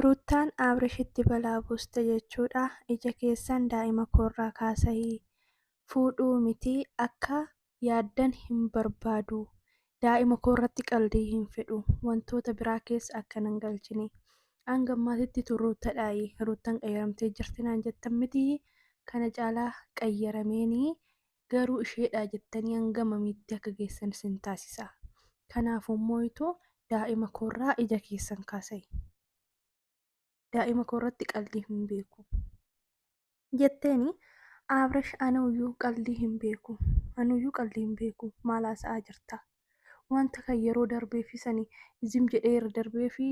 Ruttaan Abrishitti balaa buuste jechuudha ija keessan daa'ima koorraa kaasai fuudhuu miti akka yaaddan hin barbaadu daa'ima koorratti qaldii hin fedhu wantoota biraa keessa akka nan galchine hanga ammaatitti tun ruuttadhaayi ruuttan qayyaramtee jirti naan jettan miti kana caalaa qayyarameeni garuu isheedhaa jettanii hanga mamiitti akka geessan isin taasisa. Kanaafuu mooyitoo daa'ima koorraa ija keessan kaasai. Daa'ima koorratti qaldii hin beeku. Jetteeni Abrash anuuyyuu qaldii hin beeku. Anuuyyuu qaldii hin beeku. Maal haasa'aa jirta? Wanta kan yeroo darbee fi sani zim jedhee irra darbee fi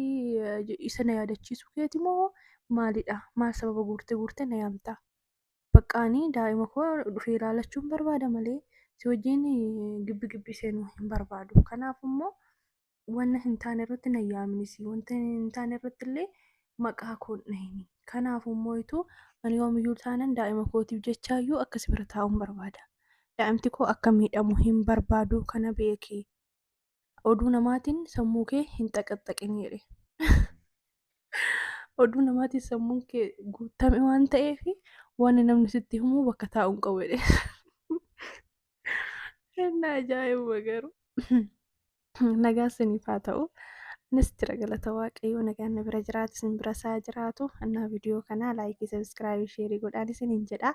isa na yaadachiisuu keeti moo maalidha? Maal sababa guurtee guurtee na yaamta? bakka ani daa'ima koo dhufee ilaalachuun barbaada malee si wajjin gibbi gibbi seenuu hin barbaadu. Kanaaf immoo wanna hin taane irratti na yaaminisi wanta hin taane irratti illee maqaa koo hin dhahini. Kanaaf immoo ituu ani yoomiyyuu taanan daa'ima kootiif jechaayyuu akka si bira taa'uun barbaada. Daa'imti koo akka miidhamu hin barbaadu kana beeki. oduu namaatiin sammuu kee hin xaqaxxaqin jedhe. Oduu namaatiin sammuun kee guutame waan ta'eef waan namni sitti himu bakka taa'u hin qabu jedhe. Inni ajaa'iba garuu. Nagaa isiniif haa ta'u. Anis jira galata waaqayyoo nagaan na bira jiraatu isin bira isaa jiraatu. Annaa viidiyoo kanaa laayikii sabiskiraaybii sheerii godhaan isiniin jedha.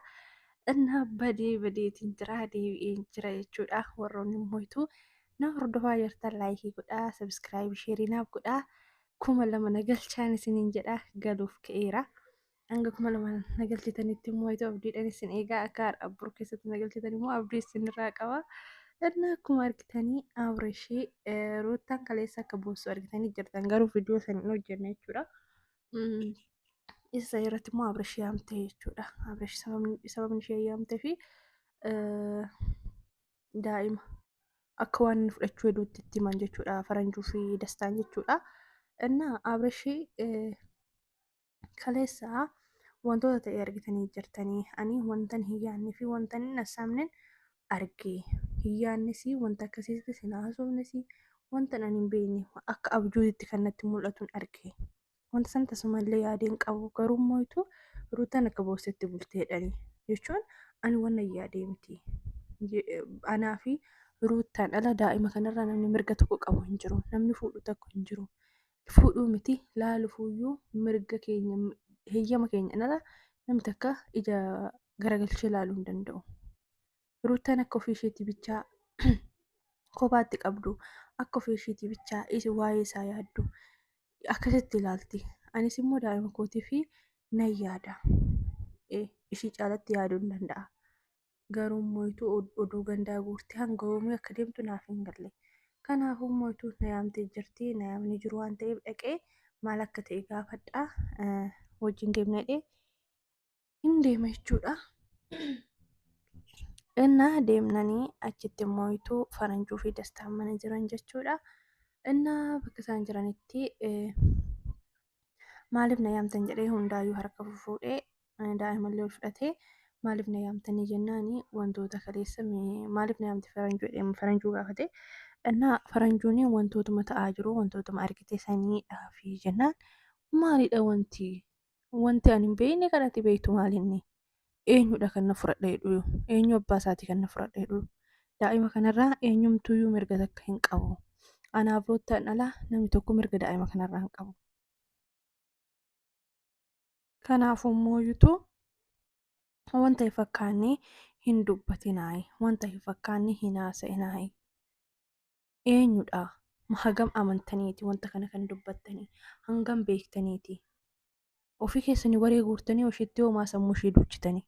Annaa badee badeetiin jira deebi'een jira jechuudha warroonni immoo Na hordofaa jirtan laayikii godhaa, sabiskiraayibii sheerii naaf godhaa. Kuma lama na galchaan isiniin jedha galuuf ka'eera. Hanga kuma lama na galchitanitti immoo itoo abdiidhaan isin eegaa akka har'a bor keessatti na galchitan immoo abdii isinirraa qaba. Innaa akkuma argitanii Abrishii eh, Ruuttaan kaleessa akka boossu argitanii jirtan garuu viidiyoo san hin hojjenne jechuudha. Mm, Isa san irratti immoo Abrishii yaamte jechuudha. Abrish sababni sababni ishee yaamtee fi eh, daa'ima akka waan inni fudhachuu hedduutti itti himan jechuudha faranjuu fi dastaan jechuudha. Innaa abrashii kaleessaa wantoota ta'e argitanii jirtanii ani wantan hin yaadne fi wantan hin assaamnen arge hin yaadnes wanta akkasiitti sin haasofnes wantan ani hin beekne akka abjuutti kan natti mul'atuun arge wanta san tasumallee yaadee hin qabu garuu mooytu ruutan akka boossetti bulteedhani jechuun ani wanna yaadee miti anaa fi ruutan ala daa'ima kanarraa namni mirga tokko qabu hin jiru namni fuudhu tokko hin jiru fuudhuu miti laalufuuyyuu mirga keenya heeyyama keenya ala namni takka ija garagalchee laaluu hin danda'u. Ruuttaan akka ofii isheetii bichaa kophaatti qabdu, akka ofii isheetii bichaa is- waa'ee isaa yaaddu akkasitti ilaalti. Anis immoo daa'ima kootii fi nan yaada. Eh, Ishii caalatti yaaduu hin danda'a. Garuu immoo ituu od- oduu gandaa guurtee hanga yoomii akka deemtu naaf hin galle. Kanaafuu immoo ituu na yaamtee jirti, na yaamni jiru waan ta'eef dhaqee maal akka ta'e gaafadhaa, eh, wajjin deemna jedhee hin deema jechuudha. Innaa deemnanii achitti immoo ituu faranjuu fi dastaan mana jiran jechuudha. Innaa bakka isaan jiranitti maaliif na yaamtan jedhee hundaayyuu harka fufuudhee daa'imallee ol fudhatee maaliif na yaamtanii jennaani wantoota kaleessa maaliif na yaamte faranjuu jedhee faranjuu gaafate. Innaa faranjuun wantootuma ta'aa jiru wantootuma argite saniidhaa fi jennaan maalidha wanti wanti ani hin beekne kan ati beektu maal inni eenyudha kan na fudhadha jedhu eenyu abbaa isaatii kan na fudhadha jedhu daa'ima kanarraa eenyumtuyyuu mirga takka hin qabu anaa biroottaan alaa namni tokko mirga daa'ima kanarraa hin qabu. Kanaafuu immoo yuutuu wanta hin fakkaanne hin dubbatinaayi wanta hin fakkaanne hin haasa'inaayi. eenyudha? Ma hagam amantaniiti wanta kana kan dubbattanii? Hangam beektaniiti? Ofii keessanii waree guurtanii oshitti hoomaa sammuu ishee duuchitanii.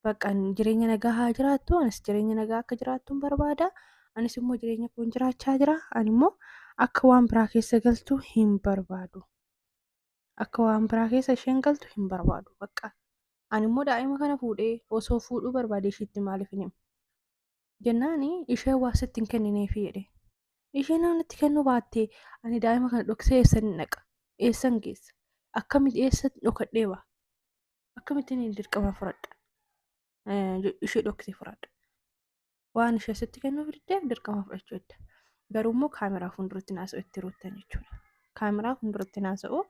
Bakka jireenya nagaa haa jiraattu, anis jireenya nagaa akka jiraattuun barbaada. Anis immoo jireenya koon jiraachaa jira. Ani immoo akka waan biraa keessa galtu hin barbaadu. Akka waan biraa keessa isheen galtu hin barbaadu. Bakka ani immoo daa'ima kana fuudhee osoo fuudhuu barbaade ishiitti maaliif hin himu? Jennaani isheen waa sitti hin kennineefi jedhe. Isheen yoo natti kennuu baatte ani daa'ima kana dhoksee eessan hin dhaqa? Eessan geessa? Akkamitti eessa dhokadhee ba'a? Akkamitti inni dirqama fudhadha? Eh, Ishee dhoksee fudhadha. Waan ishee sitti kennuuf diddeef dirqama fudhachuu edda. garuu immoo kaameraa fuulduratti naasa'u itti ruuttan jechuudha. Kaameraa fuulduratti naasa'u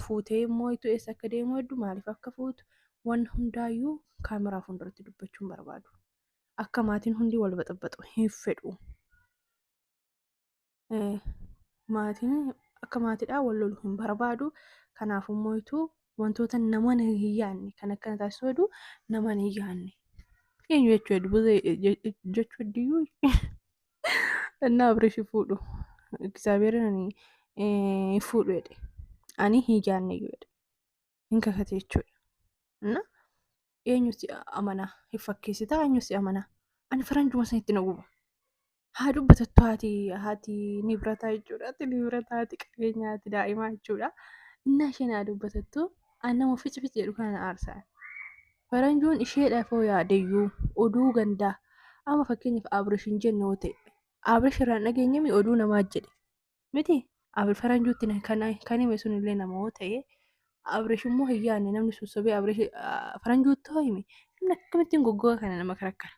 fuutee immoo itti eessa akka deemu hedduu maaliif akka fuutu waan hundaayyuu kaameraa fuulduratti dubbachuun barbaadu. Akka maatiin hundi wal baxabaxu hin fedhu. Maatiin akka maatiidhaa wal lolu hin barbaadu. Kanaaf immoo ituu wantoota namaan hin yaadne kan akkana taasisu hedduu namaan hin yaadne. Eenyu jechuu hedduu buzee jechuu hedduyyuu innaa abreeshi fuudhu egzaabeerin ani hin fuudhu jedhe ani hin yaadne iyyuu jedhe hin kakate jechuudha. Innaa eenyu si amanaa hin fakkeessitaa eenyu si amanaa ani faranjuma sanitti na guba. haa dubbatattu haati haati nibrataa jechuudha haati nibrataa haati qabeenyaa haati daa'imaa jechuudha innaa isheen haa dubbatattu an nama fici fici jedhu kana na aarsa faranjoon isheedhaaf yoo yaadeyyuu oduu gandaa amma fakkeenyaaf abrish hin jenne yoo ta'e abrish irraa hin dhageenyemi oduu namaa jedhe miti abri faranjuutti na- kan kan hime sun illee nama yoo ta'e abrish immoo hin yaadne namni sun sobee abrish faranjuutti hoo hime namni akkamittiin goggoga kana nama karakkara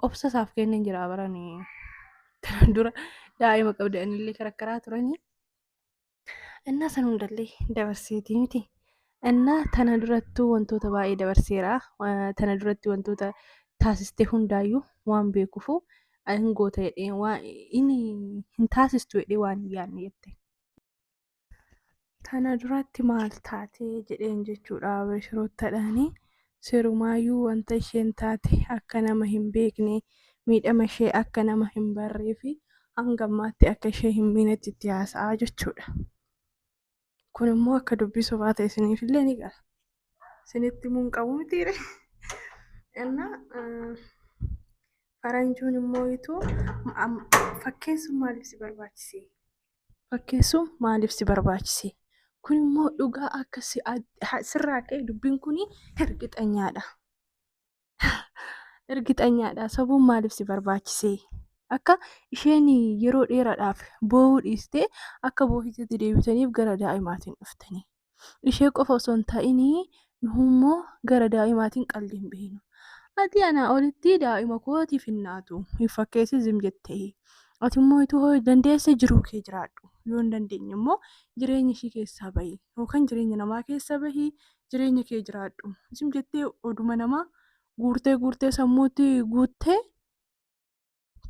obsa isaaf kenneen jira barani tanan dura daa'ima qabda anillee karakkaraa turanii innaa san hundallee dabarseetii miti innaa tana durattuu wantoota baay'ee dabarseera Wa- tana duratti wantoota taasiste hundaayyuu waan beekufu hin goota jedhee waan inni hin taasistu jedhee waan hin yaadne jette Tana duratti maal taate jedheen jechuudha Abashiroottadhaani. Sirumaayyuu wanta isheen taate akka nama hin beekne miidhama ishee akka nama hin barree fi hanga ammaatti akka ishee hin miinetti itti haasa'aa jechuudha. Kun immoo akka dubbii sobaa ta'e isiniif illee ni gala. Isinitti immoo hin qabu mitiire. Innaa faranjuun immoo ituu fakkeessuun maaliif si barbaachise? fakkeessuun maaliif si barbaachise? Kun immoo dhugaa akka sirraa ka'e dubbiin kun ergixanyaadha. Ergixanyaadha. Sabuun maaliif si barbaachise? Akka isheen yeroo dheeraadhaaf boo'uu dhiistee akka boohitetti deebitaniif gara daa'imaatiin dhuftanii. Ishee qofa osoo hin ta'inii nuhummoo gara daa'imaatiin qaldi hin beeknu. Ati anaa olitti daa'ima kootiif hin naatu. Hin fakkeessi zim jettee. Ati immoo ituu hoo dandeesse jiruu kee jiraadhu. Yoo hin dandeenye immoo jireenya ishii keessaa bahi. Yookaan jireenya namaa keessa bahi jireenya kee jiraadhu. Zim jettee oduma namaa guurtee guurtee sammuutti guuttee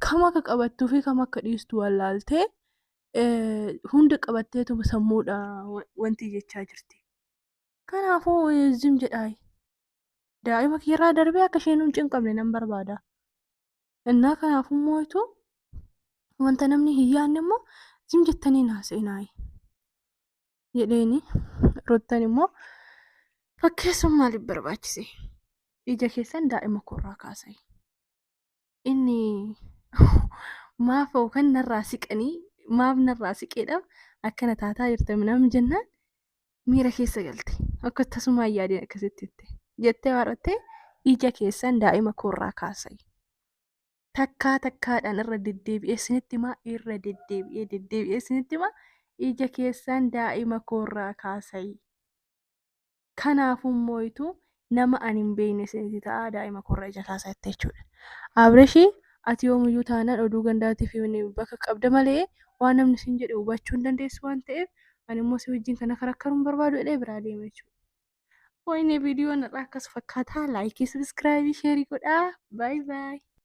kam akka qabattuu fi kam akka dhiistu wallaaltee hunda qabatteetuma sammuudha wanti jechaa jirti. Kanaafuu zim jedhaa daa'ima kiirraa darbee akka isheen hin cinqamne nan barbaada. Innaa kanaafuu mootu wanta namni hin yaadne immoo zim jettanii naa seenaayi. Jedheeni rottan immoo fakkeessuun maaliif barbaachise? Ija keessan daa'ima koorraa kaasayi. inni maaf yookaan narraa siqanii maaf narraa siqeedhaaf akkana taataa jirte minam jennaan miira keessa galte akka tasumaa yaadeen akkasitti jette jettee warrattee ija keessan daa'ima koorraa kaasai takkaa takkaadhaan irra deddeebi'ee sinitti maa irra deddeebi'ee deddeebi'ee sinitti maa ija keessan daa'ima koorraa kaasai Kanaafuu mooyitu nama ani hin beekne isinitti ta'a daa'ima koorra ija kaasaa jette jechuudha. Abreshii ati yoomiyyuu taanaan oduu gandaatiif bakka qabda malee waan namni siin jedhe hubachuu hin dandeessu waan ta'eef ani immoo si wajjin kana karakkaruu hin barbaadu jedhee biraa deema jechuudha. Wayinee viidiyoon har'aa akkas fakkaataa laayikii sabiskiraayibii sheerii godhaa baay baay.